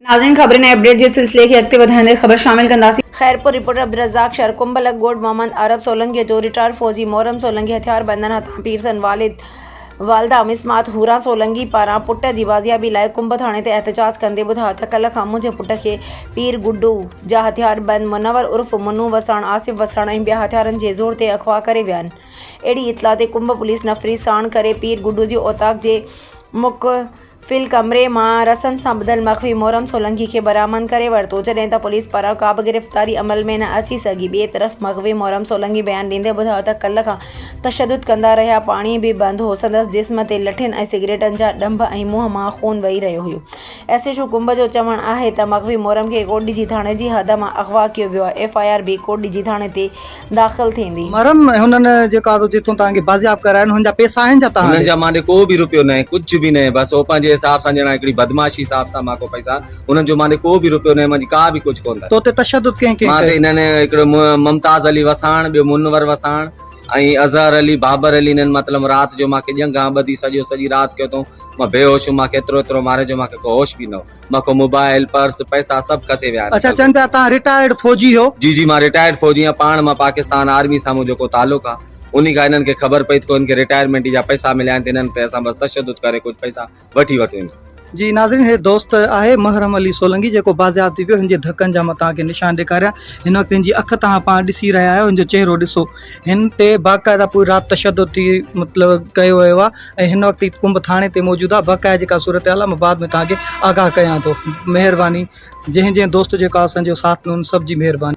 ناظرين خبرن ۽ اپڊيٽ جي سلسلي کي اڳتي وڌائيندي خبر شامل ڪنداسين. خيرپور، رپورٽر عبدالرزاق شر، ڪنڀلڪ ڳوٺ محمد عرب سولنگيء جو رٽائرڊ فوجي محرم سولنگي هٿياربندن هٿان پير سان والد والده مسمات حوران سولنگي پاران پٽ جي بازيابي لاء ڪنڀ ٿاڻي تي احتجاج ڪندي ٻڌايو ته ڪلهه کان منهنجي پٽ کي پير گڊو جا هٿياربند منور عرف منو وساڻ آصف وساڻ ۽ ٻيا هٿيارن جي زور تي اغوا ڪري ويا آهن اهڙي اطلاع تي ڪنڀ پوليس نفري ساڻ ڪري پير گڊو جي اوطاق جي مک فل ڪمري مان رسن سان ٻڌل مخفي محرم سولنگي کي برآمد ڪري ورتو، جڏهن ته پوليس پاران ڪابه گرفتاري عمل ۾ نه اچي سگهي، ٻئي طرف مخفي محرم سولنگي بيان ڏيندي ٻڌايو ته ڪلهه کان تشدد ڪندا رهيا، پاڻي به بند هو، سندس جسم تي لٺين ۽ سگريٽن جا ڏنڀ ۽ منهن مان خون وهي رهيو هيو، ايس ايڇ او ڪنڀ جو چوڻ آهي ته مخفي محرم کي ڪوٽڏيجي ٿاڻي جي حد مان اغوا ڪيو ويو آهي، ايف آء آر به ڪوٽڏيجي ٿاڻي تي داخل ٿيندي. مرن هنن جي ڪا ٿو جيٿون توهان کي بازياب ڪراين هنن جا پيسا آهن جا توهان ڏي. هنن جا مانڏي ڪو به روپيو ناهي ڪجهه به ناهي بس هو پنهنجي حساب سان ڄڻا هڪڙي بدمعاشي حساب سان مان ڪو پئسا هنن جو مانڏي ڪو به روپيو ناهي منهنجي ڪا به ڪجهه ڪونه تو تي تشدد ڪنهن ڪنهن مان تي ڪيو. هنن هڪڙو ممتاز علي وساڻ ٻيو منور وساڻ ۽ اظهر علي بابر علي هنن مطلب رات جو مان کي ڄنگهان ٻڌي سڄو سڄي رات ڪيو اٿئون مان بيهوش هئم مان کي ايترو ايترو ماريو جو مان کي ڪو هوش به نه هو. مکو موبائل پرس پئسا سڀ کسي ويا آھن. اچا چون پيا تان رٽائرڊ فوجي ھو. جي جي مان رٽائرڊ فوجي آھيان پاڻ مان پاڪستان آرمي سان منھنجو ڪو تعلق آ انھي کان انھن کي خبر پئي تھ ڪو ھن کي رٽائرمينٽي جا پئسا مليا آھن تھ انھن تي اسان بس تشدد ڪري ڪجھ پئسا وٺي وٺون ٿا. جي ناظرين ھي دوست آھي محرم علي سولنگي جيڪو بازياب ٿي پيو ھن جي ڌڪن جا مان توھان کي نشان ڏيکاريان ھن وقت ھن جي اک توھان پاڻ ڏسي رھيا آھيو ھن جو چھرو ڏسو. هن تي باقاعده پوري رات تشدد ٿي مطلب ڪيو ويو آهي ۽ هن وقت هي ڪنب ٿاڻي تي موجود آهي باقاعده جيڪا صورتحال آهي مان بعد ۾ توهان کي آگاهه ڪيان ٿو مهرباني جنهن جنهن دوست جيڪو آهي اسان جو ساٿ ڏنو ان سڀ جي مهرباني